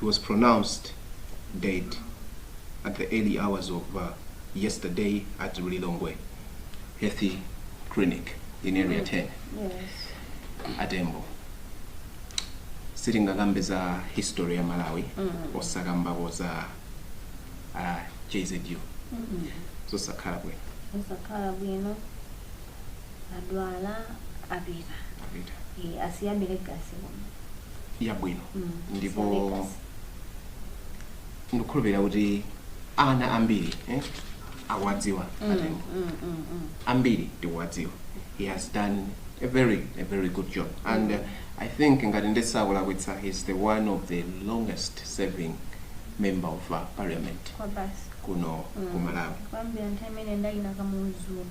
He was pronounced dead at the early hours of yesterday at Lilongwe Health Clinic in Area 10. Atembo. Sitingakambe za history ya Malawi osakambako za ah, JZU. Sizingakhale bwino. Osakhala bwino. adwala apita Apita. e, asiya mbiri, legacy kuno yabwino Mm, ndipo asiya mbiri, legacy. ndikukhulupirira kuti ana ambiri eh, akuwadziwa Mm, Atembo mm, mm, mm. ambiri tikuwadziwa he has done a very a very good job and uh, i think ngati ndisakulakwitsa he's the one of the longest serving member of uh, parliament kwa basi kuno ku malawi kuyambira nthawi imene ya a Kamuzu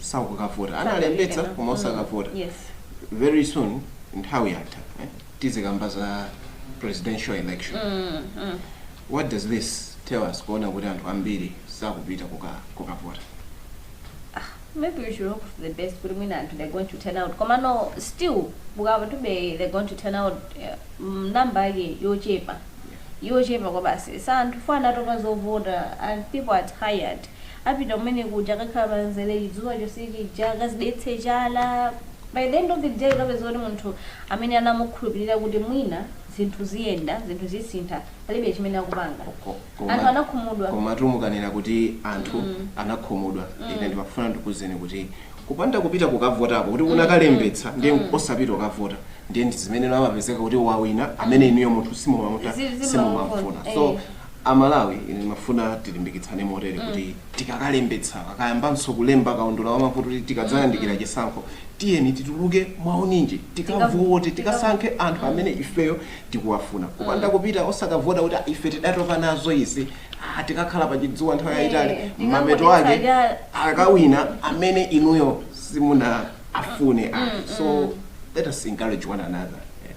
sakukavota analembetsa koma osakavota Yes. very soon nthawi yatha eh? tizikamba za presidential election what does this tell us kuona kuti anthu ambiri sakupita kuka- kukavota maybe we should hope for the best kuti mwina anthu they're going to turn out koma no still akavote they're going to turn out eh, mm, namba yake yochepa yochepa kwabasi sa anthu fo anatopa zovota and people are tired apite kumene kuja akakhale pa mzere chidzuwa chonse chija akazidetse chala by the end of the day ukupeza kuti munthu amene anamukhulupirira kuti mwina zinthu ziyenda zinthu zisintha palibe chimene akupanga Ko- koma- anthu anakhumudwa komatu mukanena kuti anthu anakhumudwa ine ndimafuna ndikuuzeni kuti kupanda kupita kukavotako kuti unakalembetsa ndiye osapita kukavota ndiye ndi zimene amapezeka kuti wawina amene inuyo munthu Zi- simumamufuna zimamufuna, simumamfuna eh. so A Malawi ine ndimafuna tilimbikitsane motere kuti tikakalembetsa akayambanso kulemba kaundula wa mavoti kuti tikadzayandikira chisankho tiyeni tituluke mwaunyinji tikavote tikasankhe anthu amene ifeyo tikuwafuna kupanda kupita osakavota kuti "Ah, ife tidatopa nazo izi ah, tikakhala pa chidzuwa nthawi yayitali Eh, mapeto ake tikangodetsa akawina amene inuyo simunawafune ayi so let us encourage one another yeah.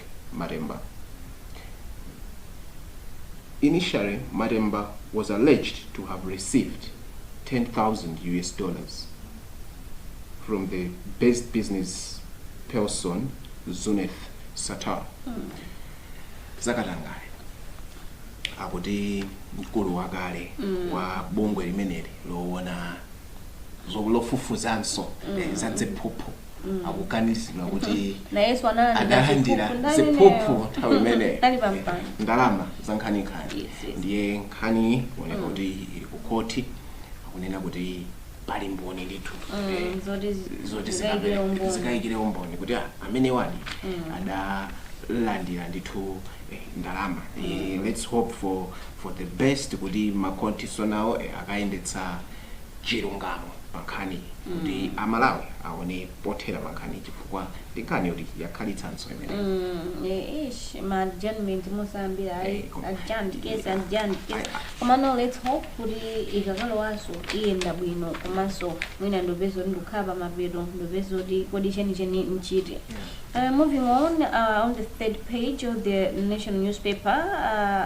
Matemba Initially, Matemba was alleged to have received 10,000 US dollars from UK based business person Zuneth Sattar zakatangale akuti mkulu wakale wa bungwe limeneli lowona zo- lofufuzanso eh, za dziphuphu akuganizidwa kuti nayeso analandira analandira ziphuphu ndani ziphuphu ineyo? nthawi imeneyo Ndali pampando. ndalama za nkhaninkhani Yes, yes. ndiye nkhani kuoneka kuti ili ku khoti akunena kuti pali mboni ndithu Mm, Eh, zoti zi- zoti zikaikire zikabe- umboni. zikaikire umboni kuti ah, amene wani adalandira ndithu eh, ndalama Eh, let's hope for for the best kuti makhoti nso nawo eh, akayendetsa chilungamo pankhaniyi kuti amalawi aone pothera pankhaniyi chifukwa ndi nkhani yoti yakhalitsanso imeneyi Mm, eh, ish, ma adjournment musambira ayi Eh, koma- adjourned case yeah. adjourned case Ayi, ayi. koma no let's hope kuti ikakalowanso iyenda bwino komanso mwina ndi kupeza kuti ndikukhala pa mapeto ndi kupeza kuti kodi chenicheni nchiti Uh, moving on, uh, on the third page of the Nation newspaper, uh,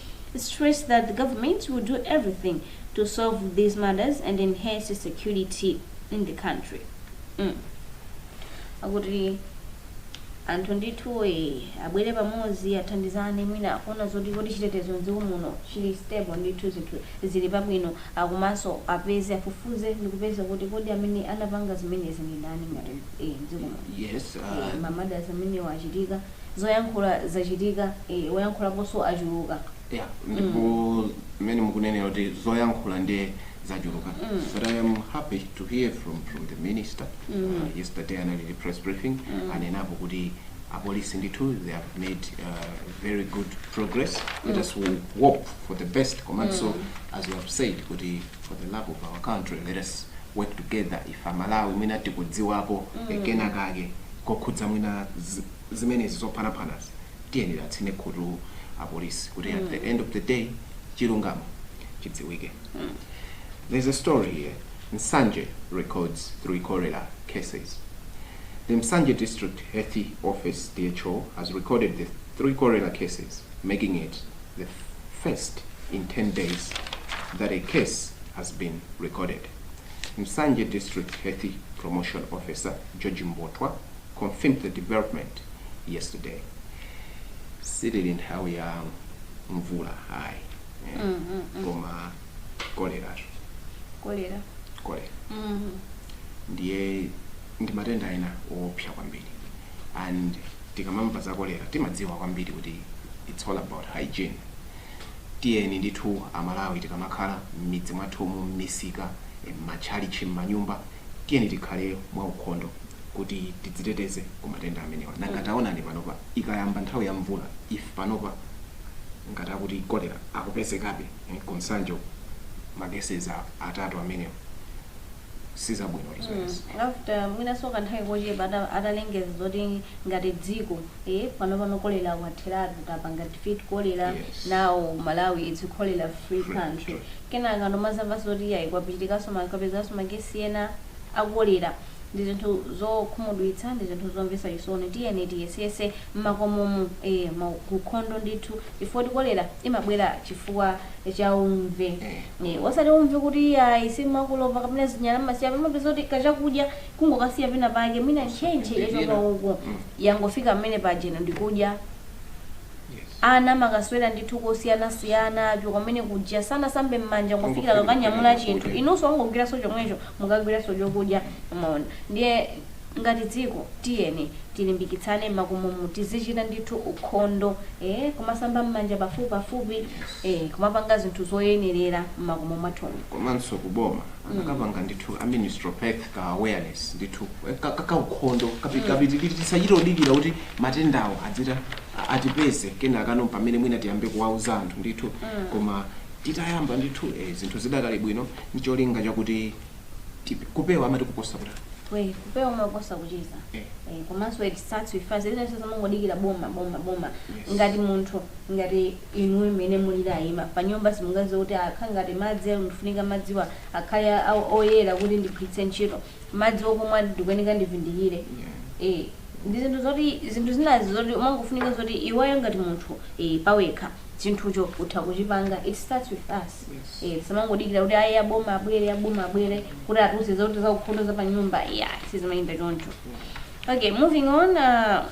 stressed that the government will do everything to solve these matters and enhance security in the country. Mm. Akuti anthu ndithu eh, abwere pamodzi athandizane mwina akuona zoti kodi chitetezo mdziko muno chili stable ndithu zinthu zili pabwino komanso apeze afufuze ndikupeza kuti kodi amene anapanga zimenezi ndi ndani ngati eh, mdziko muno yes uh, ma murders amene wachitika zoyankhula zachitika ee oyankhulaponso achuluka yeah ndipo mmene mukunenera kuti zoyankhula ndiye zachuluka but i am happy to hear from from the minister uh, yesterday anali ndi press briefing anenapo kuti apolisi ndithu they have made uh, very good progress let us hope for the best komanso as you have said kuti for the love of our country let us work together if amalawi mwina tikudziwapo mm. kenakake kokhudza mwina zimenezi zophanaphanazi tiyeni tatsine khutu apolisi kuti mm. at the end of the day chilungamo chidziwike mm. there's a story here msanje records three cholera cases the msanje district health office dho has recorded the three cholera cases making it the first in 10 days that a case has been recorded Nsanje District Health Promotion Officer George Mbotwa confirmed the development yesterday. Sitili nthawi ya mvula ayi eh, Mm, mm, mm. koma kolera kolera kolera Mm. ndiye ndi matenda ena oopsa kwambiri and tikamamva za kolera timadziwa kwambiri kuti it's all about hygiene Tiyeni ndithu a Malawi tikamakhala mmidzi mwathumu, mmisika, mmatchalitchi, mmanyumba, tiyeni tikhale mwa ukhondo kuti tidziteteze ku matenda amenewa. Nanga taonani panopa ikayamba nthawi ya mvula if panopa ngati akuti cholera akupezekabe ku Nsanje uku ma cases atatu amenewa. sizabwino mm. zimenezi Mm, after mwinanso kanthawi kochepa ata- atalengeza zoti ngati dziko eh, panopano kolera watheratu tapanga defeat kolera Yes. now Malawi it's a cholera free Free country country. kenaka nomazamva zoti yayi kwachitikanso apezekanso ma case ena akolera ndi zinthu zokhumudwitsa ndi zinthu zomvesa chisoni tiyeni tiyesese mmakomomu eh, ma- kukhondo ndithu chifukwa kuti kolera imabwera chifukwa cha umve eh, osati umve kuti ayi simukolopa kapena zinyala mmasiya kumapezeka kuti kachakudya kungokasiya pena pake mwina ntchentche yachoka uku mm. yangofika mmene pajano ndikudya ana makaswera ndi tosiyanasiyana achoka kumene kuja sanasambe mmanja kungofikira akanyamula chinthu inunso angogwiranso chomwecho mukagwiranso chokudya mwaona ndiye Ngati dziko tiyeni tilimbikitsane mmakomomu tizichita ndithu ukhondo ee kumasamba mmanja pafupipafupi ee kumapanga zinthu zoyenerera mmakomo mwathumu. Komanso ku boma akanapanga ndithu a ministry of health ka awareness ndithu ka ka kaukhondo kapi kapatalipatali tisachite kudikira kuti matendawo adzita a- atipeze kenako mpamene mwina tiyambe kuwauza anthu ndithu koma titayamba ndithu ee zinthu zidakali bwino ncholinga chakuti Tipe- kupewa amati kuposa kutani we kupewa kumaposa kuchiza Eh. Eh, komanso it starts with us zinazi osamangodikira boma boma boma Yes. ngati munthu ngati inuyo mmene mulili mayi pa nyumba simungaziwe kuti kukhala ngati madzi ayo ndifunika madziwa akhale a- oyera kuti ndigwiritse ntchito madzi okumwa ndikuyeneka ndivindikire Eh, ndi zinthu zoti zinthu zinazi zoti umangofunika zoti iweyo ngati munthu eh, pawekha chinthucho utha kuchipanga it starts with us Yes. Eh, tisamangodikira kuti ayi aboma abwere aboma abwere kuti atiuze zoti za ukhondo za panyumba yeah sizimayenda choncho okay moving on uh,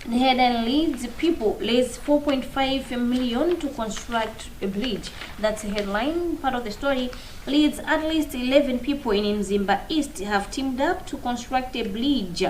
the headline leads people raise 4.5 million to construct a bridge that's the headline part of the story leads at least 11 people in mzimba east have teamed up to construct a bridge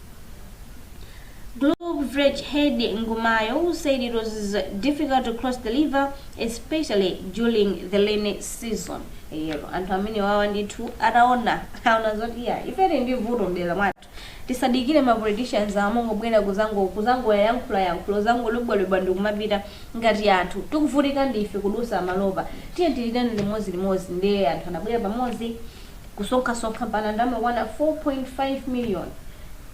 Group Village Head Ng'oma who said it was difficult to cross the river especially during the rainy season eya anthu amenewawa ndithu ataona aona zoti yayi ife tili ndi vuto mdera mwathu tisadikire ma politicians amangobwera kuzango kuzangoyayankhula yankhulo kuzangolubwalubwa ndi kumapita ngati anthu tikuvutika ndife kudusa malo apa tiyeni tiitane limodzi limodzi ndiye anthu anabwera pamodzi Kusonkhasonkha mpaka ndalama yokwana 4.5 million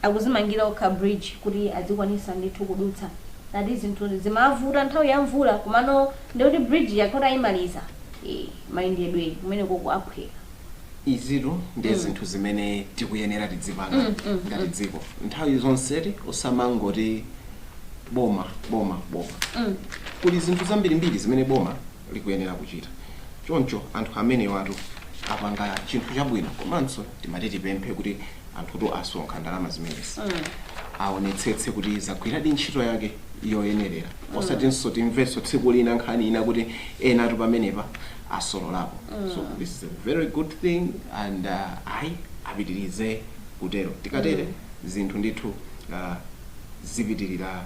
akuzimangira okha bridge kuti azikwanitsa ndithu kudutsa. Ati zinthu zimavuta nthawi ya mvula komano ndekuti bridge ija akhala kuti ayimaliza ee mayendedwe kumenekoko aphweka. Izitu ndi zinthu zimene tikuyenera tidzipanga ngati dziko nthawi zonse kuti osamangoti boma boma boma kuli zinthu zambirimbiri zimene boma likuyenera kuchita. Choncho anthu amenewatu apanga chinthu chabwino komanso timati tipemphe kuti anthutu asonkha ndalama zimenezi aonetsetse kuti zagwiradi ntchito yake yoyenerera osatinso timvenso tsiku lina nkhani ina kuti enatu pamenepa asololapo so this is a very good thing and uh, ayi apitirize kutero tikatere zinthu ndithu uh, zipitirira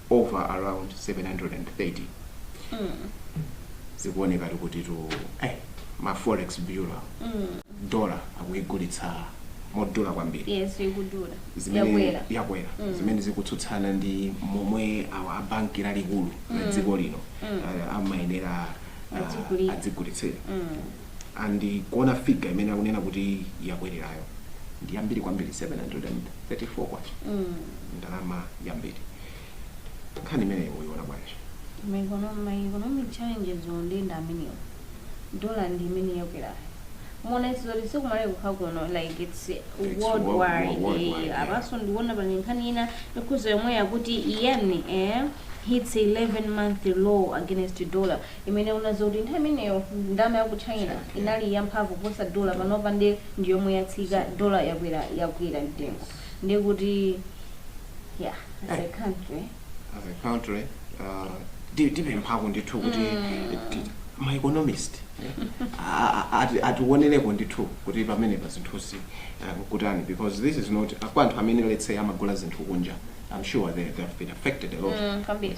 over around 730 zikuonekatu kutitu eh, ma forex bureau dollar akuigulitsa modula kwambiri yes ikudula yakwera yakwera zimene zikutsutsana ndi momwe awa a banki lalikulu la dziko lino eh, amayenera ah, Adzigulira. adzigulitsira and kuona figure imene akunena kuti yakwererayo ndi yambiri kwambiri 734 kwacha ndi ndalama yambiri nkhani imeneyi muyiona bwanji ma econo- ma economic challenges ndi amenewo dollar ndi imene yakwerayo muona zoti si ku Malawi kokha kuno like it's It's world- worldwide worldwide, eh, yeah. apanso ndikuona pali nkhani ina ikukhudza yomwe yakuti yen eh, hits 11 month low against dollar imene unaona zoti nthawi imeneyo ndalama ya ku China inali ya mphamvu kuposa dollar panopa nde ndi yomwe yatsika dollar yakwera yakwera mtengo nde kuti yeah as a country as a country uh, ti- tipemphako ndithu kuti ti- ma economist eh, a- a- ati- atiwonereko ndithu kuti pamenepa zinthuzi eh, nkutani because this is not kwa anthu amene let's say amagula zinthu kunja i'm sure they, they have been affected a lot Mm, kwambiri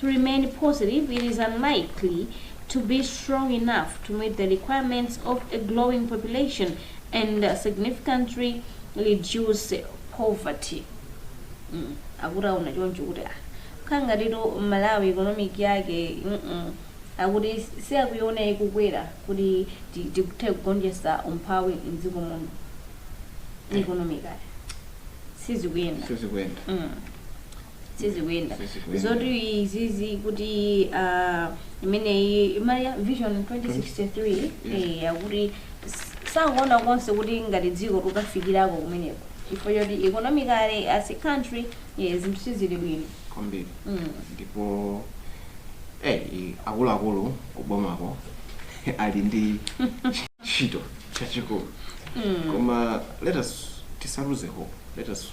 to remain positive, it is unlikely to be strong enough to meet the requirements of a growing population and significantly reduce poverty. Mm. akuti aona choncho kuti ah, kukhala ngatitu malawi economy yake mm-mm, akuti sakuiona ikukwera kuti ti- tikuthe kugonjetsa umphawi mdziko muno economically sizikuyenda sizikuyenda Mm. sizikuyenda Sizikuyenda. zoti izizi kuti ah, imeneyi ma vision 2063 eh, akuti s- sakuona konse kuti ngati dziko tukafikirako kumeneko chifukwa choti economically as a country eh, zinthu sizili bwino kwambiri Mm. ndipo eh, i- akuluakulu kubomako ali ndi ntchito yaikulu koma let us tisaluze hope let us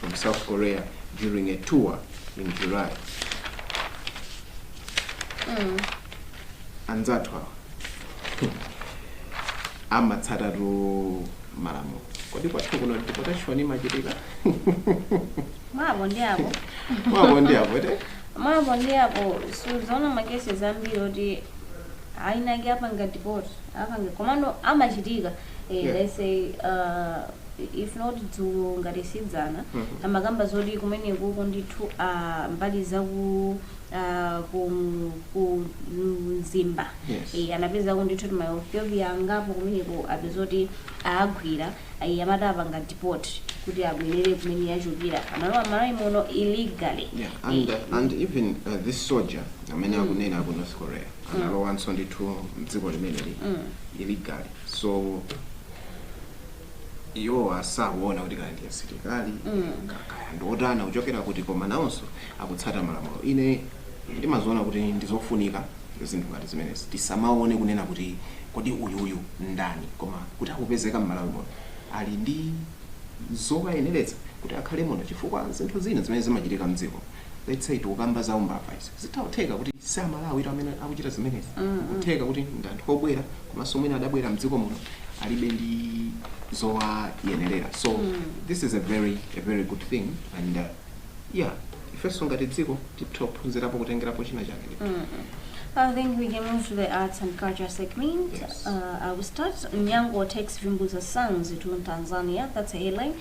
from South Korea during a tour in July. Mm. anzathu awa amatsatatu malamulo kodi kwathu kuno deportation imachitika mwa apo ndi apo mwa apo ndi apo te mwa apo ndi apo sudzaona ma cases ambiri oti ayinake apanga deport apanga komano amachitika Eh, Yeah. let's say uh, if not dzulo ngati sidzana Mhm. amakamba zoti kumenekuko ndithu uh, mbali zaku uh, ku, ku mzimba Yes. eh, anapezako ndithu kuti maethiopia angapo kumeneko apezoti aagwira eh, amati apanga deport kuti abwerere kumene achokera analowa mMalawi muno illegally Yeah, and, Eh, uh, and even uh, this soldier amene akunena aku north korea analowanso ndithu mdziko limeneli illegally so iwowa asaone kuti kaya ndi asilikali ka- kaya ndi otani kuchokera kuti koma nawonso akutsata malamulo ine ndimaziona kuti ndizofunika zinthu ngati zimenezi tisamaone kunena kuti kodi uyuyu ndani koma kuti akupezeka mmalawi muno ali ndi zowayeneretsa kuti akhale muno chifukwa zinthu zina zimene zimachitika mdziko let's say tikukamba za umbava izi zitha kutheka kuti si amalawi amene akuchita zimenezi kutheka kuti ndi anthu obwera komanso mwina adabwera mdziko muno alibe ndi zowayenerera so this is a very a very good thing and uh, yeah ifenso ngati dziko titha kuphunzirapo kutengerapo china chake I think we can move to the arts and culture segment. Yes. Uh, I will start. Nyango takes Vimbuza songs to Tanzania. That's a headline.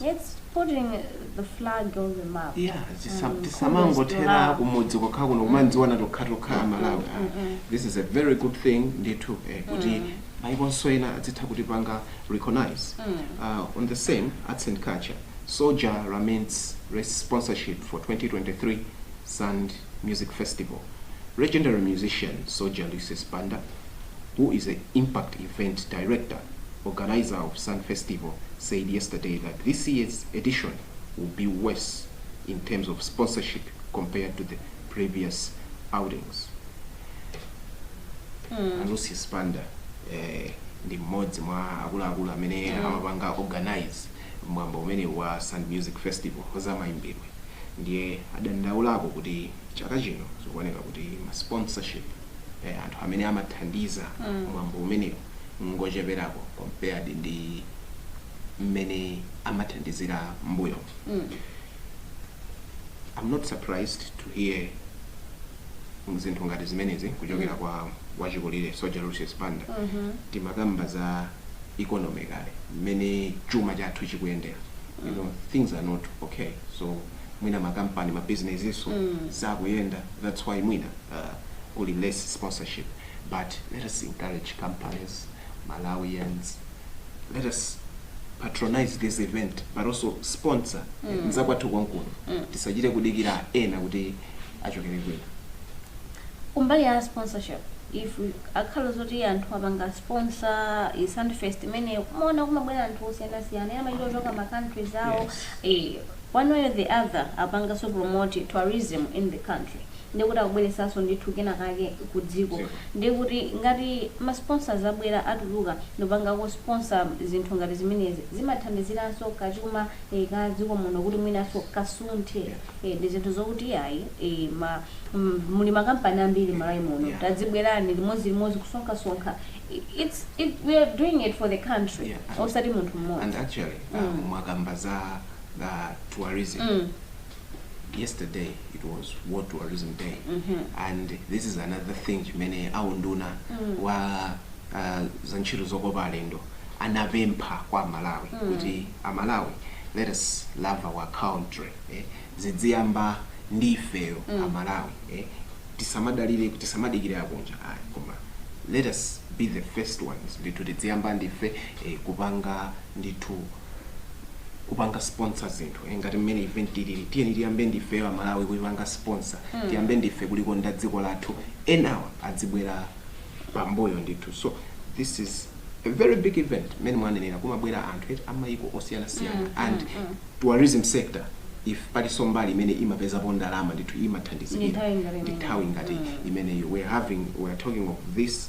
Let's putting the flag on the map. Yeah, tisa- Mm, tisamangothera kumbukira. kumudzi kwakha kuno kumanziwa na tokhatokha amalawi Ah, mm. this is a very good thing ndithu eh, kuti Mm. maikonso ena adzitha kutipanga recognize Mm. uh, on the same arts and culture soldier remains re- sponsorship for 2023 sand music festival legendary musician soldier lucius banda who is an impact event director Organiser of Sand Festival said yesterday that this year's edition will be worse in terms of sponsorship compared to the previous outings. Mm. A Lucius Banda eh, ndi mmodzi mwa akuluakulu amene mm. amapanga organize mwambo umene wa Sand Music Festival wazamayimbidwe ndiye adandaulako kuti chaka chino zikuoneka kuti ma sponsorship eh, anthu amene amathandiza mm. mwambo umenewu ngocheperako compared ndi mmene amathandizira mmbuyomu. Am not surprised to hear zinthu ngati zimenezi kuchokera kwa wachikulire Soja Lucius Banda. Timakamba za economy kale mmene chuma chathu chikuyendera. You know, things are not okay. So mwina makampani mabizinesinso sakuyenda that's why mwina uh, kuli less sponsorship. but let us encourage companies, Malawians, let us patronize this event but also sponsor mm. nzakwathu konkuno mm. tisachite kudikira ena kuti achokere kwina kumbali ya sponsorship if akhala zoti anthu apanga sponsor Sand Fest imeneyo kumaona kumabwera anthu osiyanasiyana ena amachita kuchoka ma countries awo Yes. eh, one way or the other apanganso promote tourism in the country ndiye kuti akubweretsanso ndithu kena kake ku dziko Dziko. ndiye kuti ngati ma sponsors abwera atuluka ndikupangako sponsor zinthu ngati zimenezi zimathandiziranso ka chuma eh, ka dziko muno kuti mwinanso kasunthe Yeah. eh, ndi zinthu zokuti iyayi eh, ma, mm, muli makampani ambiri malawi muno Yeah. tadzibwerani limodzi limodzi kusonkhasonkha I- it's, it, we are doing it for the country Yeah. osati munthu mmodzi and actually uh, Mm. mwakamba za uh, tourism Mm. yesterday it was world tourism day and this is another thing chimene aunduna wa uh, za ntchito zokopa alendo anapempha kwa amalawi kuti amalawi let us love our country eh? zidziyamba ndi ifeyo amalawi eh? tisamadalire tisamadikire akunja ayi koma let us be the first ones ndithu tidziyamba ndife eh, kupanga ndithu kupanga sponsor zinthu eh, ngati mmene event ilili tiyeni tiyambe ndifeyo amalawi kuipanga sponsor mm. tiyambe ndife kulikonda dziko lathu enawa adzibwera pambuyo ndithu so this is a very big event mmene mwanenera kumabwera anthu eti amayiko osiyanasiyana mm, and mm, mm. tourism sector if palinso mbali imene imapezapo ndalama ndithu imathandizikira Ni nthawi ngati ndi imeneyi. nthawi ngati imeneyo we are having we are talking of this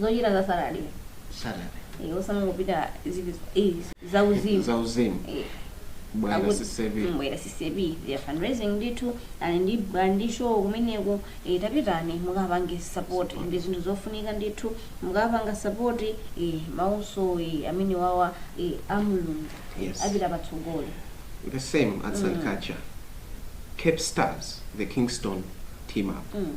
zochita za Saturday. Saturday. Eh, osamangopita zinthu eh, za uzimu. Za uzimu. Eh. Bwana CCB. Mm, Bwana CCB. They are fundraising ndithu ali ndi ali ndi show kumeneko eh, tapitani mukapange support ndi zinthu zofunika ndithu mukapanga support eh, mauthenga eh, amenewawa eh, a Mulungu Yes. apita patsogolo. The same at St. Kacha. Cape Stars, the Kingston team up. Mm.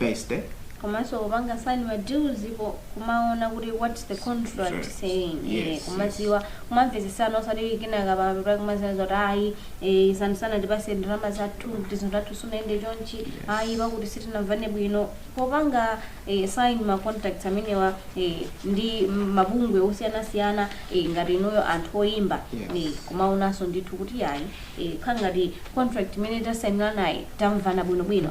Beste. komanso kupanga sign ma deals apo kumaona kuti what's the contract Sure. saying Yes, eh, yes. kumadziwa kumamvetsesana osati kenaka pamapepera kumaziona zakuti ayi eh, isanu sana tipase ndalama zathu kuti zinthu zathu sunayende chonchi ayi pakuti sitinamvane bwino popanga eh, sign ma contracts amenewa eh, ndi mabungwe osiyanasiyana eh, ngati inuyo anthu oyimba Yes. eh, kumaonanso ndithu kuti ayi eh, kaya ngati contract imene tasainiranayi tamvana bwinobwino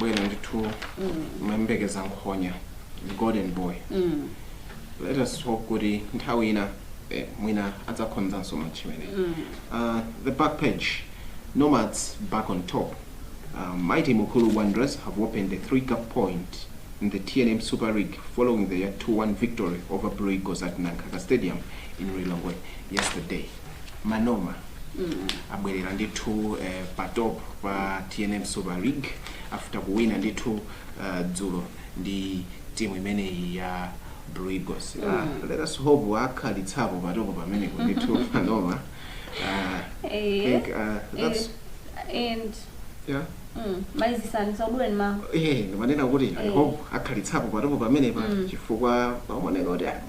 bwino ndithu timayembekeza nkhonya the golden boy let us hope kuti nthawi ina eh, mwina adzakonzanso match imeneyi uh, the back page nomads back on top uh, mighty mukuru wanderers have opened a three cup point in the tnm super league following their 2-1 victory over blue eagles at nankaka stadium in lilongwe yesterday manoma abwerera ndithu eh, patopo pa tnm super league after kuwina ndithu uh, dzulo ndi timu imeneyi ya blue eagles uh, let us hope akhalitsapo patopo pamene ndithu manoma uh, I Eh, think, uh, that's, eh, and yeah. mm, ndimanena kuti i Eh. hope akhalitsapo patopo pamenepa chifukwa pamaoneka kuti ah,